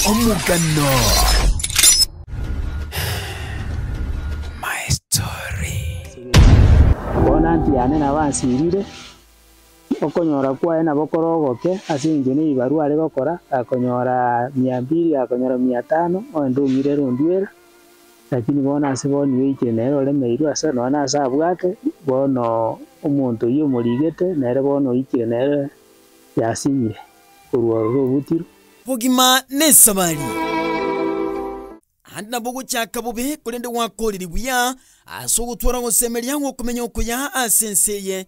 Omogano. My story. Bono anti yane nabo ansirire, okonyora kwaye nabo kore ogoke, ase eng'encho nebibarua are gokora, akonyora mia mbiri, akonyora mia tano, onde omira ere onduera. Lakini bono ase boni oikire nere oremeirwe ase nonya nase abwate, bono omonto oyio omorigete, nere bono oikire nere yasinyire korwa ororo obutiro. Bogima nesabari, aande nabo ogochaka bobe, korende gwakorire buya ase ogotwara ogosemeria gw'okomenya okuya ase ense eye.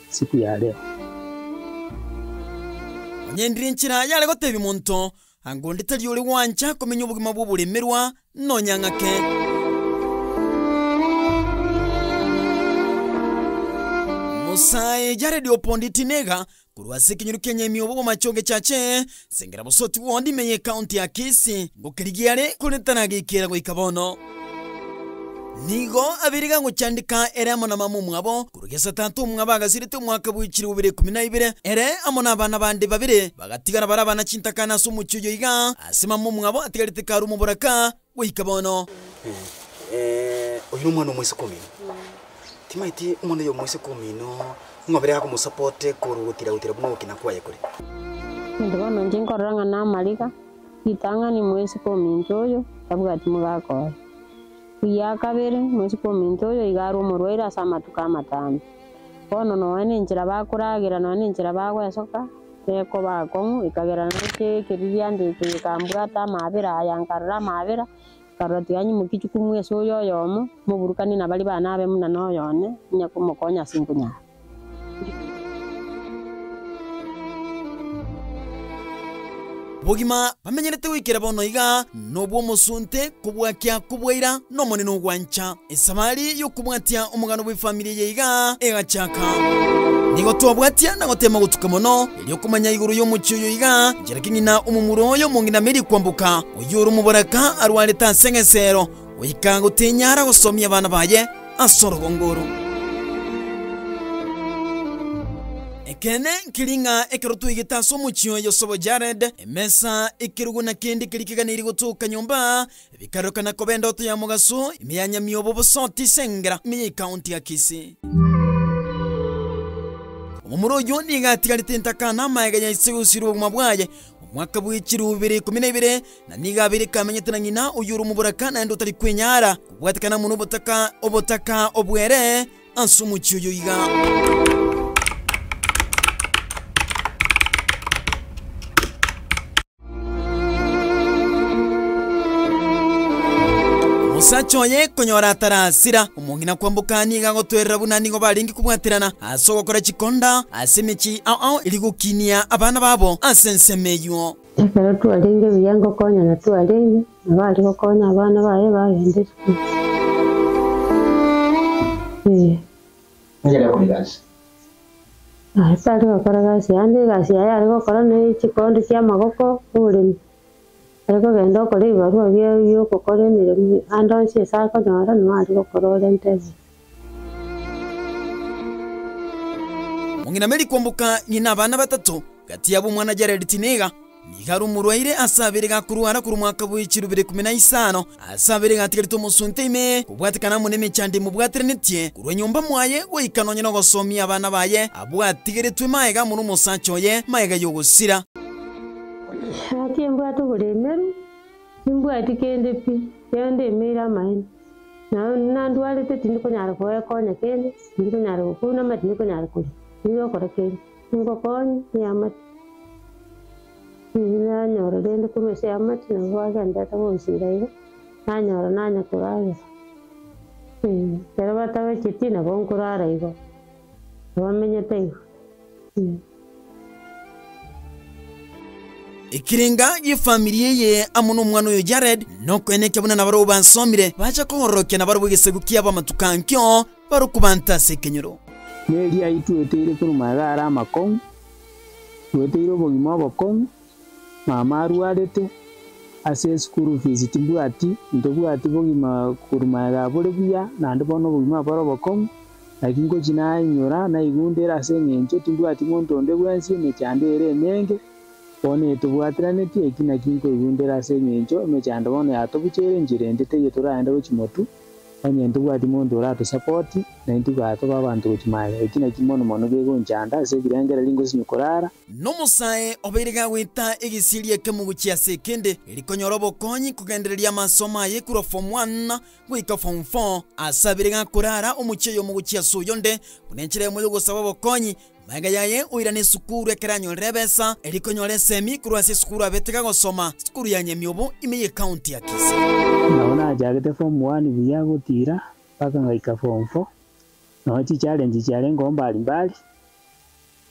siku ya reo. Onye ndire enchera yare gotebia monto, Anga onde tari ore gwancha komenya obogima bw'oboremerwa, nonya ng'ake. Omosae yaredi opondeti nega korwa ase ekenyoro ki'enyemi obo bw'amache ogechache, Sengera bosooki bw'ondi ime y'ekaunti ya Kisii ngokerigia are kore taragekera goika bono. Nigo abeire gagochandeka ere amo na mama omwabo korwa gesa tata omwabo agasirete omwaka bwe chilifu bibere ikomi na ibere, ere amo nabana bande babere bagatigara bare abana chintakana ase omochie oyo iga ase mama omwabo atigarete karu omoboraka. Goika bono. Oyo nomwana omoiseke omino. Timaeti omwana oyo omoiseke omino ing'obere akomosapote korwa gotiragotira buna ogokina kwaye kore. Inde bono inche nkorora ng'a namariga ritang'ani moiseke ominto oyo tabwati mogaka oye. Ekiya kabere, moiseke ominto oyo iga arwe omorwaire ase amatuko amatambe. Bono nonya nenchera bakoragera, nonya nenchera bagoesoka. nekoba akong'u, ekagera nainche ekeriria ande ekio gikambwata amaabera aya, nkarora amaabera, nkarora tiganyimoki chikumu ase oyo oyomo, moburukani na baria bane abe buna noyo one, onye komokonya ase nkunyara. Obogima bamenyerete goikera bono iga nobw'omosunte, kobwakia kobwaira, n'Omonene ogwancha. Esabari y'okobwatia omogano bw'efamiri eye iga egachaka. Nigo twabwatia na goteema gotuka mono erio komanya igoro y'omochie oyo iga inchera ki ng'ina omomura oyo omong'inameri kwamboka, oyio ore omobaraka arwarete ase egesero, goika gotenyara gosomia abana baye ase orogongo oro. Ekeene nkeri ng'a ekero twaigete ase omochie oyo sobo Jared, emesa, ekerogo na kende keria keganeirie gotoka nyomba, Bikarokana koba endoto ya mogaso, ime ya Nyamiobo bosoti ase engera ime ya ekaunti ya Kisii. Omomura oyio nigo atigarete entaka na amaega ya ise gosiria obogima bwaye omwaka bwa echiro bibere ikomi na ibere, na nigo abeire kamenyete na ng'ina oyio ore omoboraka naende otari kwenyara, obwatekana amo nobotaka obotaka obwere ase omochie oyio iga. Omosacha oye konyora atarasira, omong'ina kwamboka nigo agotwerera buna nigo barenge kobwaterana ase ogokora chikonda ase emechie yao eria gokinia abana babo ase ensemo eyio. Ekero twarenge buya ngokonyana twarenge, nabo aria gokonya abana baye bagenda esukuru. Nigere gokora egasi. Aye tari gokora egasi yande, egasi yaye are gokora ne chikondi chia amagoko, oboremi. Are kogenda okore ebibarua bia biokokora emeremo ande onsi ase akonyora nigo are gokora ore entebe. Mong'ina Mary kwamboka ng'ina abana batato, gati yabo omwana Jared Tineiga. Nigo rumurwaire ase abere gakorwara korwa omwaka bwe chirubera ikume na isano, ase abere gatigarete omosunte ime, kobwatekana amo nemechando emobwateranetie, korwa nyomba mwaye goika nonya nogosomia abana baye abwo atigaretwe magega amo nomosacha oye magega y'ogosira. Naki mbwate oboremeru, timbwati kende pi, ekiagera ndemeire amaene. Na nandwarete, tindi konyara koekonya kende, tindi konyara gokounama, tindi konyara koria, tindi gokora kende. Ingokonyia Amati. Nanyora rende korwa ase Amati nabo bagendererete gonsira iga, nanyora nanye koragera. Ekero batabacheti nabo nkorara igo, abamenyete igo. Ekirenga y'efamiri eye amo nomwana oyo Jared, nokoenekia buna nabarabwo basomire, bacha koororokia nabarabwo egesegu kiabo amatuko ankio, barokobanta ase ekenyoro. Neri ayio tweteire korwa magega are amakong'u, tweteire obogima obokong'u, mama arwarete, ase eschool fees timbwati, ntobwati bogima korwa magega bore buya, naende bono obogima obo bore obokong'u, naki ngochi nainyora, naigundera ase eng'encho timbwati monto onde bwensi, emechando ere emenge, bono etobwatiraneti, eki naki nkoigundera ase eng'encho emechando bono yatobuchere enchera ende teiyo toraende gochimotu. Onye ntobwati monto orato-sapoti, naintwe gatoba abanto gochia maega. Eki nakio mono mono gegonchanda ase ebirengererio ngosinywe korara. Nomosae obeire gagweta egesieri ekemo gochia ase ekende, rikonyora obokonyi kogendereria amasomo aye korwa Form One goika Form Four. Ase abere gakorara omochie oyomo gochia ase oyonde, buna enchera eyemo y'ogosaba obokonyi, Magega yaye oirane esukuru ekero anyorire ebesa eria konyora esemi korwa ase esukuru abe tiga gosoma sukuru ya Nyamiobo ime ye county ya Kisii. Nabo nachagete form one buya gotira mpaka ngaika form four, nonya chichallenge chiarengeo mbari mbari,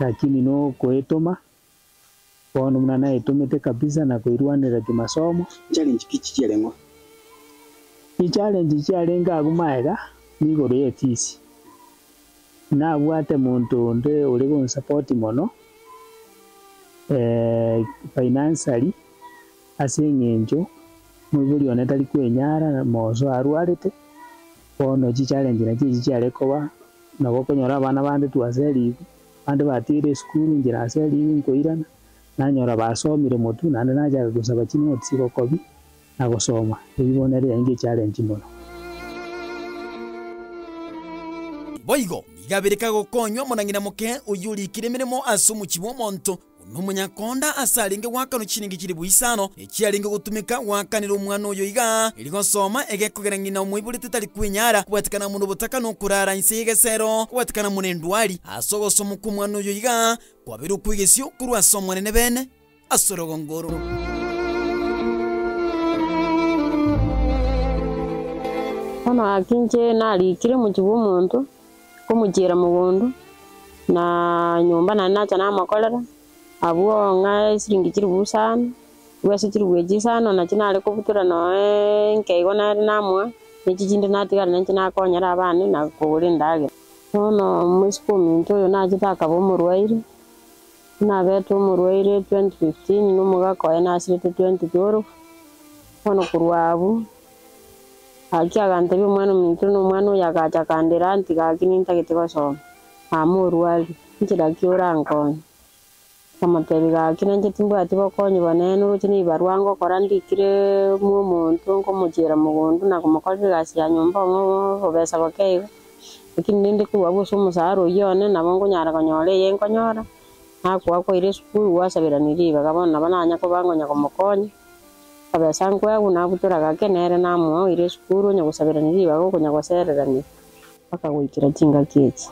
lakini nokoetoma. Bono buna naitomete kabisa na koirwanera kimasomo. Challenge ki chiare ng'o? Chi challenge chiarenge agwo maega nigoro ye fees. Nabwate monto onde ore gonsupport mono financially ase eng'encho moibori one tari kwenyara moreso arwarete. Bono chi challenge nachi echi chiare koba nabo okonyora abana bande twaseriwu Abande batiire esukuru inche nase erio nkoirana, nanyora basomire motu naende nachaka gosaba chinoti chigokobi na gosoma, ebibo nere yainga echarenji mono. Boigo nigo abere kagokonywa omorang'ina moke oyio orikire emeremo ase omochie bw'omonto. Buna omonyakonda ase arenge goakanwa chiningi chilifu isano echiarenge gotumeka, goakanera omwana oyo iga, erio gosoma egekogera ng'ina omoiborete tari kwenyara kobatikana amo nobotaka nokoraara inse y'egesero, kobatikana amo nendwari. Ase ogosoma kw'omwana oyo iga kwabeire okw'egesio korwa ase Omonene bene ase orogongo oro. Bono gaki inche narikire mochie bw'omonto, Nkomochiera mogondo na nyomba naende nacha namokorera. Abwo ng'a esiringi chilifu isano, igo ase chilifu echio isano nachio nare kobutora noo enke igo nere namoa, ne echi chinde natigara nenche nakonyera abana na kogora endagera. Bono mwesiko ominto oyo nachete akaba omorwaire, buna nabete omorwaire twenty fifteen na omogaka oye nasirete twenty twelve, bono korwa abwo. Gaki agantebia omwana-ominto na omwana oyo agacha akandera, Anti gaki nintagete gosoma. Aa morwari, inche naki orankonye? Nkamotebia, Gaki nainche timbwati bokonyi bonene, oroche nebibarwa ngokora ndikire mwa omonto, nkomochiera mogondo na komokorera egasi ya nyomba ong'e obobesa boke iga. Gaki ninde korwa abwo ase omosara oyio one, nabo nkonyara konyora eye nkonyora, nakoa kwaire esukuru, gwasaberanirie ribaga, bono nabo nanya koba ngonya komokonya. Abesankwe agwo nabutora gake nere namoa oire esukuru onye gosaberania ribaga okonya gosererania mpaka goikera chingaki echi.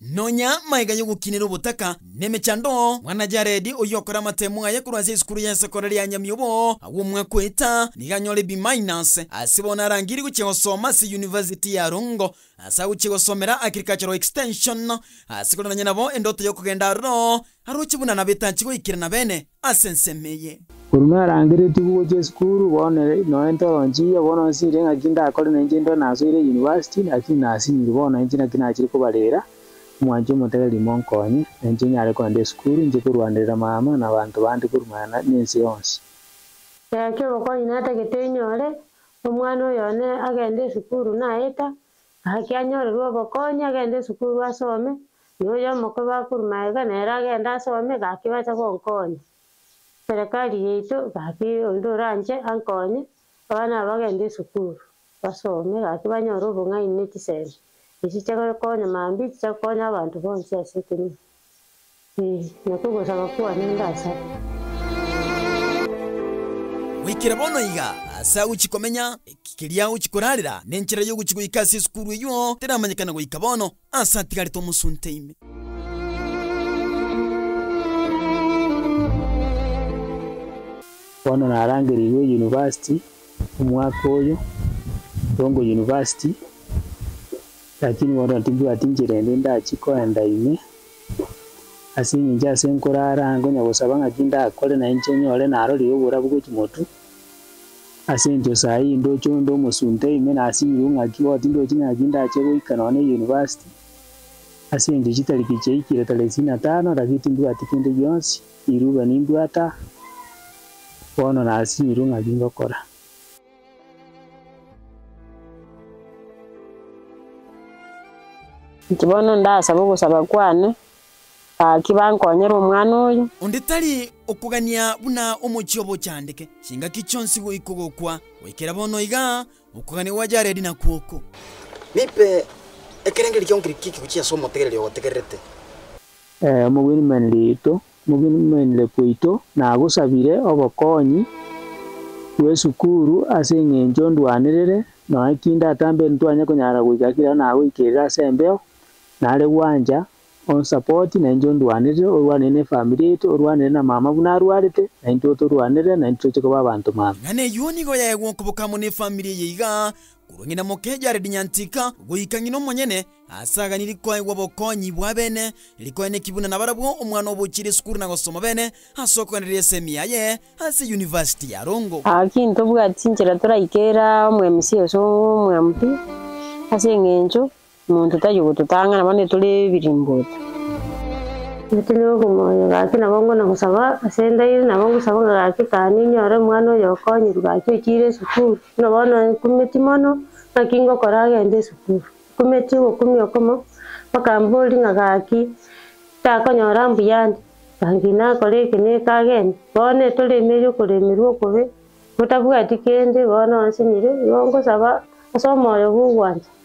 Nonya maega y'ogokinera obotaka nemechando, mwana Jared, oyio okora amatemo aye korwa ase esukuru ya sekondari ya Nyamiobo, agwo omwaka oeta, nigo anyore B-. Ase bono arangire gochia gosoma ase University ya Rongo, ase agochia gosomera Agricultural Extension, ase kororania nabo endoto y'okogenda aroro, Aroche buna nabetanchi goikerana beene ase ensemo eye. Korwa narangeretie gogochia esukuru, bono noe ntoronchirie, bono nsinyire ng'aki ndakore na inche intwe nasoire eyunivasiti, lakini nasinyiri bono inche naki nachire kobarera, omwanche omotebe rimo onkonye, na inche nyare kogenda esukuru, inche korwanderera mama na abanto bande korwa mang'ana na ense yonsi. Ekero obokonyi natagete nyore, omwana oyo one agende esukuru naeta, Gaki anyorerwe obokonyi agende esukuru asome, na oyo omokwe bakuru magega nere agende asome, gaki bache gonkonya. Serekari yaito gaki onde oranche ankonye, abana aba bagende esukuru basome gaki banyore obong'aini ne chisemi. Echi chiagokonya mambia, echi chiakonya abanto bonsi ase ekenyoro. Ee, na kogosaba kwane ndasaba. Goikera bono iga, aase agochia komenya, eki keria agochia korarera, na enchera y'ogochia goika ase esukuru eyio teramanyekana goika bono, aase atigarete omosunte ime. Bono narangerigwe yunivasiti omwaka oyo, Rongo University. Lakini bono tibwati nchera ende ndachi koenda ime, ase engencho ase nkorara nkonya gosaba ng'aki ndakore na inche nyore narorire oborabu bwe chimotu. Ase engencho saa ii ndoche onde omosunte ime nasinyigwe ng'aki bono tindochi ng'aki ndache goika nonya ne university, ase engencho chitariki chiaikire tarehe isini na tano lakini timbwati kende gionsi, riruba nimbwata bono nasinyirwe ng'aki ngokora. Inche bono ndasaba ogosaba kwane, gaki bankonyere omwana oyo. Onde tari okogania buna omochie obochandeke, chingaki chionsi goika ogokwa, goikera bono iga okogania gwa Jaredi nakwo oko. Nipe ekerengerio ki'onkirikiki gochia ase omotegereri ogotegererete. Omogwenia Manriito. Mogen'nenire kwaito nagosabire obokonyi bw'esukuru ase eng'encho ndwanerere nonya ki ndatambe ntwanye konyara goika ekero nagoikerire ase embeo nare gwancha onsupport na inche ondwanerere orwanire ne family yaito orwanire na mama buna arwarete na intwe otorwanere na intwe toche koba abanto mama. Ing'ana eyio nigo yaegwa okoboka amo ne efamiri eye iga Korwa ng'ina moke Jaredi Nyantika goika ng'ina omonyene ase aganiri koegwa obokonyi bwa bene, rikoeneki buna nabarabwo omwana obochirie esukuru na gosoma bene ase okoendereria ase emiya ye ase University ya Rongo. Gaki ntobwati chinchera toraikera omwemusi ase omwampi, ase engencho Omonto taiyo gototang'ana, bono tore ebirimboto. Gati nigo okomoyo, gaki nabo ngona gosaba ase endairi, nabo ngosaba ng'a gaki kane inyore omwana oyo okonyiru gaki ochiire esukuru. Buna bono nkumeti mono ng'aki ngokora agende esukuru. Nkumeti ogokumi okomo, mpaka mbori ng'a gaki takonyora mbuya ande, gaki nakore eke na eke agende. Bono etore ime erio okoremerwa okobe, botabwati kende, bono onsinyire, nigo ngosaba ase omoyo bw'ogwancha.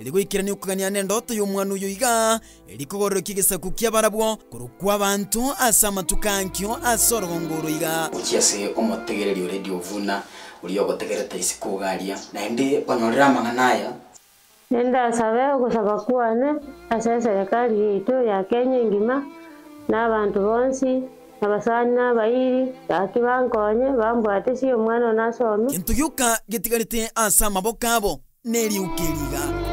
Eri goikerania okogania nendoto y'omwana oyo iga, eri kogorokia egesaku ki'abarabwo korokwa abanto ase amatuko ankio ase orogongo oro iga. Gochia ase omotegereri o Radio Vuna, oria ogotegerete isiko ogaria, naende onyorere amang'ana aya. Nindasabe ogosaba kwane ase eserekari yaito ya Kenya engima, na abanto bonsi, abasani na abairi, gaki bankonye, bambwate sia omwana one asome. Gento gioka getigarete ase amaboko abo. neriuki erigaku.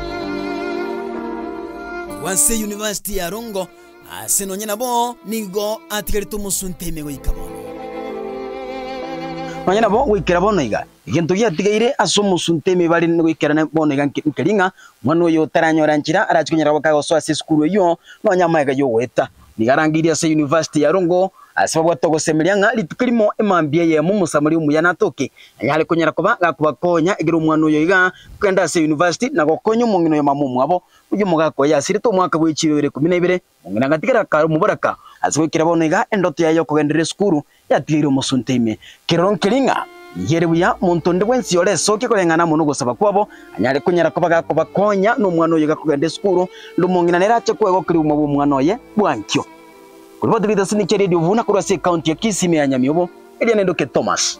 Agwo ase University ya Rongo, aase nonye nabo nigo atigarete omosunte ime goika bono. Nonye nabo goikera bono iga, egento giatigaire ase omosunte ime bare goikera bono iga nkeri ng'a, omwana oyo otaranyora nchera arache konyara goka gosoa ase esukuru eyio, nonye amaega yogoeta. Nigo arangeirie ase University ya Rongo ase babwate ogosemeria ng'a rituko rimo emambia eyemo omosamori omuya natoke anyare konyara koba gakobakonya ekero omwana oyo iga kogenda ase University na gokonya omong'ina oyo mama omwabo. Oyio omogaka oyo yasirete omwaka bwe chiroero ikomi na ibere, omong'ina agatigara kare omoboraka ase goikera bono iga endoto yaye y'okogenderera esukuru yatigeire omosunte ime. Kiroro nkeria ng'a yere buya monto onde bwensi ore esokia koreng'ana amo nogosaba kwabo, anyare konyara koba gakobakonya nomwana oyo gakogenda esukuru, ande omong'ina nere ache koegwa keria obogima bw'omwana oye bwankio. Korwa batebete ase niche radio buna korwa ase ekaunti ya Kisii ime ya Nyamiobo, Elianendoke Thomas.